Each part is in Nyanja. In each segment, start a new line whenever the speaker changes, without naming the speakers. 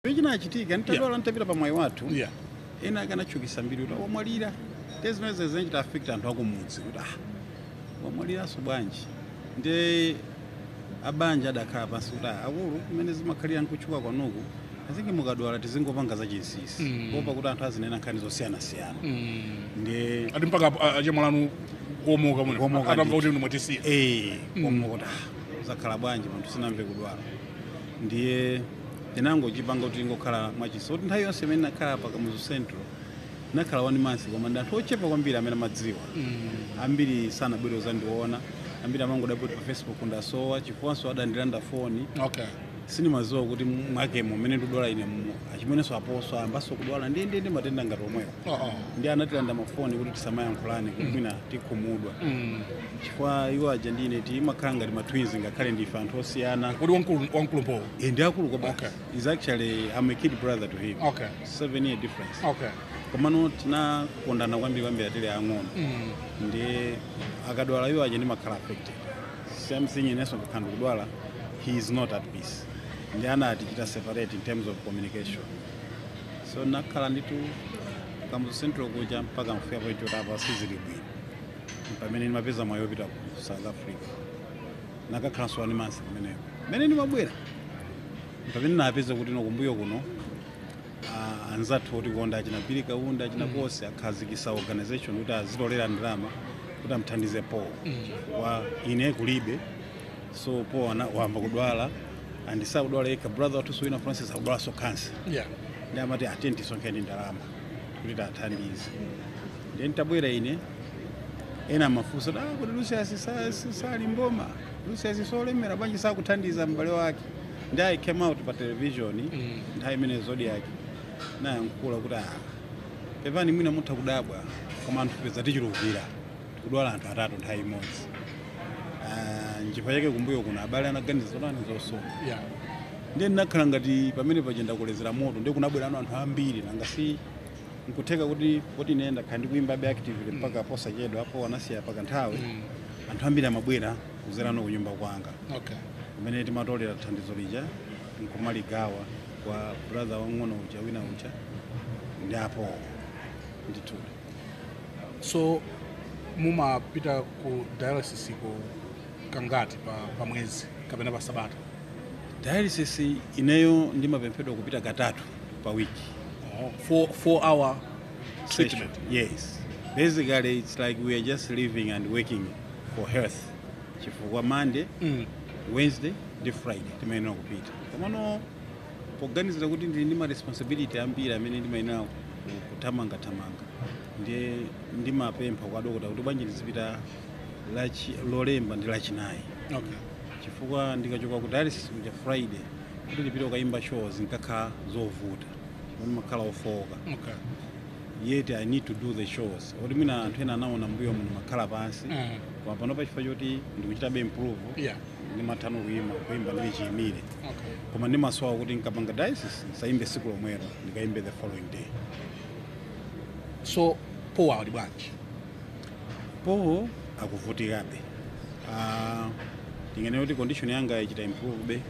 chinachitika ntadwala ntapita pa mwayi wathu Yeah.
ena akanatchukisa
mbiri kuti wamwalira nde zimenezi zinachita affect anthu akumudzi kuti ah wamwaliranso bwanji nde abanja adakhala pansi kuti ah, akulu kumene zimakhalira nkutchuka kwanuku mwina mukadwala tizingopanga za chinsinsi Mm. kuopa kuti anthu azinena nkhani zosiyanasiyana Mm. nde ati mpaka a-
a- achemwali anu kuomoka mwina Kuomoka atamva ndithu. kuti inu mwatisiya eh Mm. omwe kuti
ah zakhala bwanji munthu sinamve kudwala ndiye tinangochipanga kuti ingokhala mwachisa kuti nthawi yonse imene ndinakhala pa kamuzu central ndinakhala one month koma ndi anthu ochepa kwambiri amene amadziwa ambiri sanabwere kuzandiona ambiri amangodabwa poti pa facebook ndasowa chifukwanso adandilanda foni
okay sindimadziwa kuti
mwa timu mmene ndidwala ine mu- achimenenso a paul ayambanso kudwala ndiye ndi matenda ngati omwewo uh -uh. ndiye anatilanda mafoni kuti tisamayankhulane kuti mwina tikhumudwa mm. chifukwa iwo aja ndine timakhala ngati matwins ngakhale ndife anthu osiyana kodi wamkulu
m'paulo e, ndi akulu kwa
okay. is actually I'm a kid brother to him okay. seven year difference okay. komano tinkakondana kwambiri kwambiri tili ang'ono mm. nde akadwala iwo aja ndimakhala affected same thing inenso nkakhala ndikudwala he is not at peace nde anatichita separate in terms of communication so nakhala ndithu kamuzu central kuja mpaka kufika point yoti apa sizili bwino pamene ndimapeza mwayi wopita ku south africa nkakhalanso one month kumeneko mmene ndimabwera mpamene ndinapeza kuti kumbuyo kuno ah, anzathu otikonda achina phiri kaunda achina khosi akhazikisa organization kuti azitolera ndalama kuti amthandize paul poti ine kulibe so paul ana- wayamba kudwala and sakudwala yekha brother wathuso wina francis akudwalanso cancer yeah. nde
amati
tiyeni tisonkhe ndalama kuti tiwathandize ndiye nditabwera ine ena amafunsa kuti ah, kodi lucius sa- si- sali mboma lucius si olemera bwanji sakuthandiza m'bale wake nde i came out pa television nthawi imeneyo zodiak nayankhula kuti ah, pepani mwina mutha kudabwa koma tinapezeka tichulukira kudwala anthu atatu nthawi imodzi Ah, nchifukwa chake kumbuyo kuno abale anaganiza zotani zonsezo Yeah.
ndiye
ndinakhala ngati pamene paja ndakolezera moto ndiye kunabwerano anthu ambiri nanga si nkutheka kuti poti ine ndakhala ndikuimbabe actively mpaka posachedwa a paul anasiya pakanthawi Mm. anthu ambiri amabwera kuzera kunyumba kwanga Okay.
kumene
timatolera thandizo lija nkumaligawa kwa brother wang'ono uja wina uja ndi a paul ndithudi
so mumapita ku dialysis ko kangati pa, pa mwezi kapena pa sabata dialysis
ineyo ndimapemphedwa kupita katatu pa wiki oh. four, four
hour treatment yes
basically it's like we are just living and working for health chifukwa monday mm. wednesday ndi friday timayenera kupita komano poganizira kuti ndili ndi ma responsibility ambiri amene ndimayenera ku- kuthamangathamanga ndiye ndimapempha kwa dokota kuti bwanji ndizipita lachi- lolemba ndi lachinayi okay.
chifukwa
ndikachoka ku dialysis kuja friday kuti ndipite kukayimba show zinkakhala zovuta ndimakhala ofooka okay.
yet
i need to do the shows oti mwina anthu ena anaona mbuyo muno makhala pansi mm. koma panopa chifukwa choti ndikuchitabe improve yeah. ndimathano
kuima
kuimba ndili chiyimire okay. koma
ndimasowa kuti
nkapanga dialysis nsaimbe siku lomwero ndikaimbe the following day
so paul ali
bwanji paul akuvutikabe uh, tinganene kuti condition yanga ichita improve be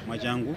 mwachangu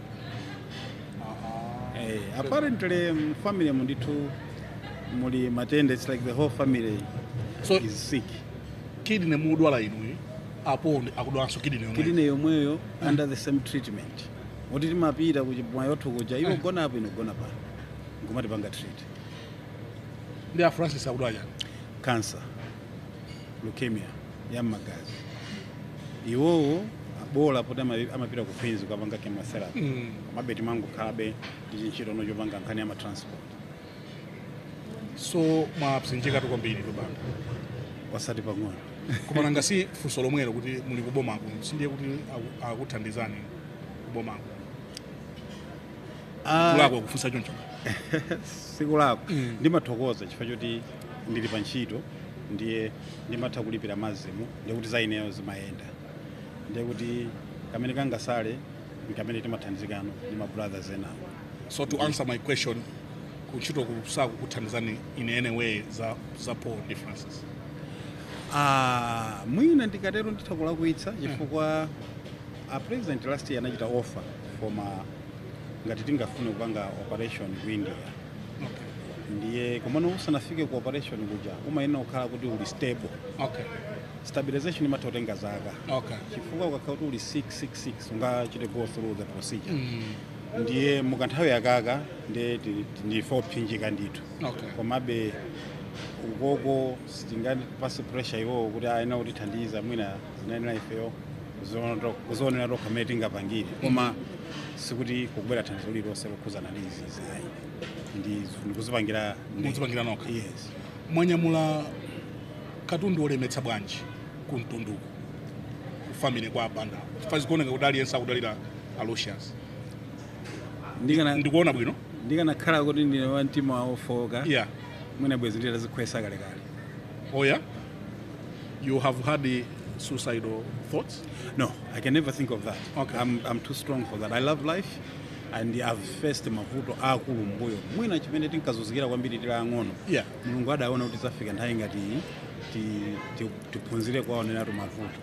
Eh, apparently mu family mu ndithu muli matenda it's like the whole family So- is sick kidney
mudwala inuyo a paul ndi- akudwalanso kidney yomwe kidney
yomweyo under the same treatment kuti timapita ku chi- mwaiwathu kuja iwo gona apo ine gona pano nkumatipanga treat
ndi a francis akudwala chani cancer
leukemia ya m'magazi iwowo bola poti ama- amapita ku queens kukapanga chemotherapy Mm. komabe timangokhalabe ndi chintchitono chopanga nkhani ya matransport so
mwapsinjikatu kwambiritu a banda
osati pang'ono koma nanga
si funso lomwelo kuti muli kubomako sindiye kuti aku- akuthandizani kubomako Ah, kulakwa kufunsa choncho
sikulakwa Mm. ndimathokoza chifukwa choti ndili pa ntchito ndiye ndimatha kulipira masm ndiye kuti za ineyo zimayenda ndiye kuti kamene kangasale ndikamene timathandizikano ndi ma brothers enawo so to answer
my question kuntchitoku sakukuthandizani in any way za, za paul ndi francis
Ah, mwina ndikatero nditha kulakwitsa chifukwa a president last year anachita offer koma ngati tingafune kupanga operation ku india ndiye komano usanafike ku operation kuja umayenera kukhala kuti uli stable okay stabilization imatha kutenga zaka okay chifukwa ukakhala kuti uli sick sick sick sungachite go through the procedure mm. ndiye mu kanthawi akaka ndiye ti- ti- ndife opsinjika ndithu okay komabe ukoko sitingapatse pressure iwowo kuti ayenera kutithandiza mwina zinayenera ifeyo kuziona to- kuzionera tokha mmene tingapangire koma sikuti kukubwera thandizo lililonse lokhuzana ndi izi Ayi. Ndi ndikuzipangira ndi.
Mudzipangira nokha.
Yes.
Mwanyamula katundu olemetsa bwanji ku mtunduku ku family kwa a Banda. Chifukwa zikuoneka kuti aliyense akudalira a Lucius. Ndikana Ndikuona bwino. ndikanakhala kuti
ndine wa mtima wofooka. Yeah.
Mwina bwezi
ndidadzikhweza kale kale.
Oh yeah. You have had the suicidal thoughts? No, I can never
think of that. Okay. I'm, I'm too strong for that. I love life. and I've faced mavuto aakulu m'mbuyo mwina chimene tinkazunzikira kwambiri tili ang'ono Yeah. mulungu
adaona
kuti idzafika nthawi ngati iyi, ti- ti- tiphunzire kuwaoneratu mavuto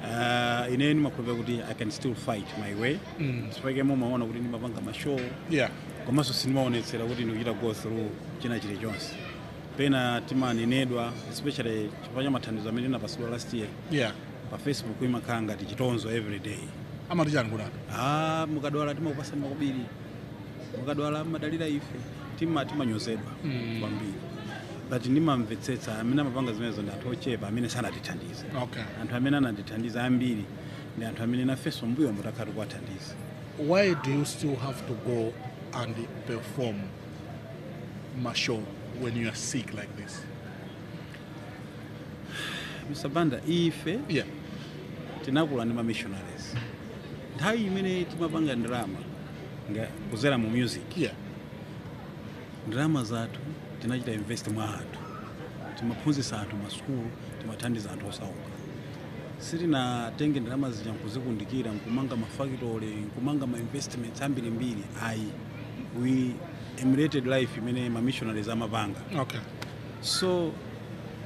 uh, ine ndimakhulupira kuti i can still fight my way mm. nchake mumaona kuti ndimapanga mashow yeah
komanso
sindimaonetsera kuti ndikuchita go through china chilichonse pena timanenedwa especially chifukwa cha mathandizo amene ndinapatsidwa last year yeah pa facebook imakhala ngati chitonzo everyday amati chani kuti
ah mukadwala
timakupatsani makobiri mukadwala mumadalira ife tima timanyozedwa Mm. kwambiri but ndimamvetsetsa amene amapanga zimenezo ndi anthu ochepa amene sanatithandize okay anthu amene anatithandiza ambiri ndi anthu amene nafenso m'mbuyomu takhala tikuwathandiza why do
you still have to go and perform mashow when you are sick like this
Mr. Banda, ife
yeah.
tinakula ndi mamissionaries nthawi imene timapanga ndalama kuzera mu music yeah. ndalama zathu tinachita invest mwa anthu timaphunzitsa anthu masukulu timathandiza anthu osauka sitinatenge ndalama zija nkuzikundikira nkumanga mafactory nkumanga mainvestments ambirimbiri ayi we emulated life imene mamissionaries amapanga okay. so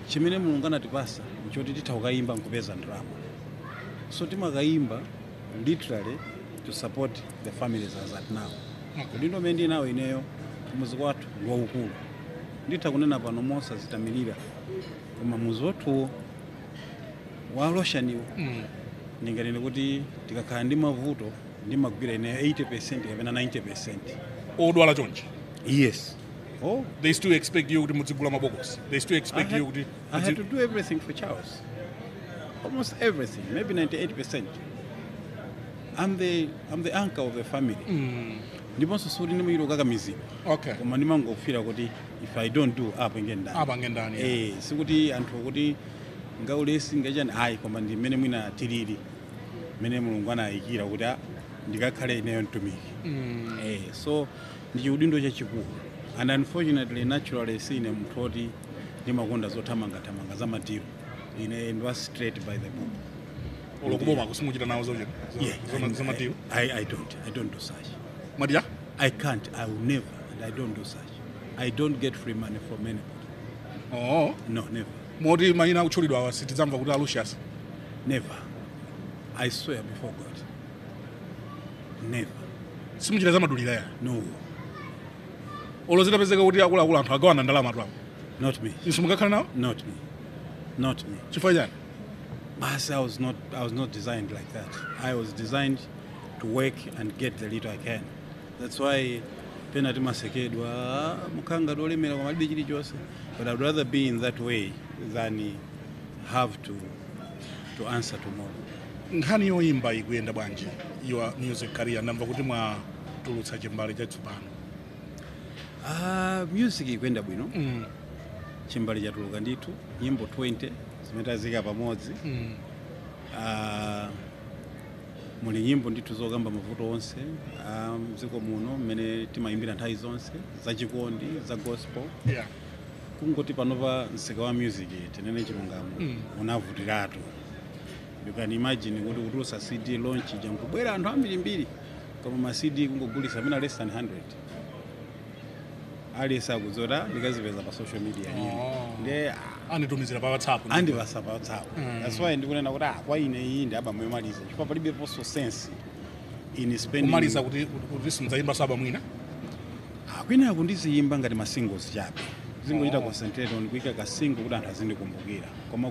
chimene mulungu anatipatsa nchoti titha kukayimba nkupeza ndalama so timakayimba literally to support the families as at now udindo umene ndili nawo ineyo mudzi kwathu ndi waukulu nditha kunena pano mosadzitamilira koma mudzi wathuwo wa Sosola uwo Mm. ndinganene kuti tikakhala ndi mavuto ndimagwira ineyo 80 percent kapena 90 percent odwala
chonchi yes
Oh, they still expect
you kuti mudzigula mabokosi they still expect had, you kuti i had to do
everything for charles almost everything maybe 98 percent i'm the, I'm the anchor of the family mm. ndiponso sikuti ndimachita kukakamizidwa okay. koma ndimangofila kuti if i don't do apa ngendani apa ngendani eh sikuti anthu kuti ngaulesi ngachani ayi koma ndi mmene mwina tilili mmene mulungu anayikira kuti ah, ndikakhale ineyo mtumiki mm. eh, so ndi chiudindo chachikulu and unfortunately naturally sine munthu oti ndimakonda zothamangathamanga za madilu ine ndi wa straight by the book olo
kubomaku simuchita nawo zochita Yeah, zoma- I- zomadilu I, I don't I don't
do such
madilu I can't
I will never and I don't do such I don't get free money from anybody
oo no never
moti mayina akutchulidwa
awa sitidzamva kuti a Lucius never
I swear before God
never simuchita zamadilu ya no olo zitapezeka kuti akuluakulu anthu agawana ndalama twapo not me inunso
mungakhale nawo not me not me chifukwa chani
basi i
was not i was not designed like that i was designed to work and get the little i can that's why pena timasekedwa "Ah, mukhala ngati olemera koma mulibe chilichonse but i'd rather be in that way than have to to answer tomorrow. nkhani
yoyimba ikuyenda bwanji your music career ndamva kuti mwatulutsa chimbale chatsopano Ah,
music ikuyenda bwino mm. chimbale chatuluka ndithu nyimbo 20 zimene taziika pamodzi mm. Ah, muli nyimbo ndithu zokamba mavuto onse ah, mdziko muno mmene timayimbira nthawi zonse zachikondi za gospel yeah. kungoti panopa msika wa music tinene chilungamo unavutiratu you can imagine kuti kutulutsa cd launch ija nkubwera anthu ambirimbiri koma ma cd kungogulitsa amene less than 100 aliyense akudzota ndikazipeza pa social media Oh. iyo nde ah, anditumizira
pa whatsapp andipatsa pa whatsapp
that's why ndikunena kuti ah, kwa ine iyi ndi abamu yomaliza chifukwa palibeponso sense in spending kumaliza kuti
kuti simuzayimbanso album mwina Ah,
kwinaku ndiziyimba ngati ma singles chabe zingochita concentrate on kuika ka single kuti anthu azindikumbukira koma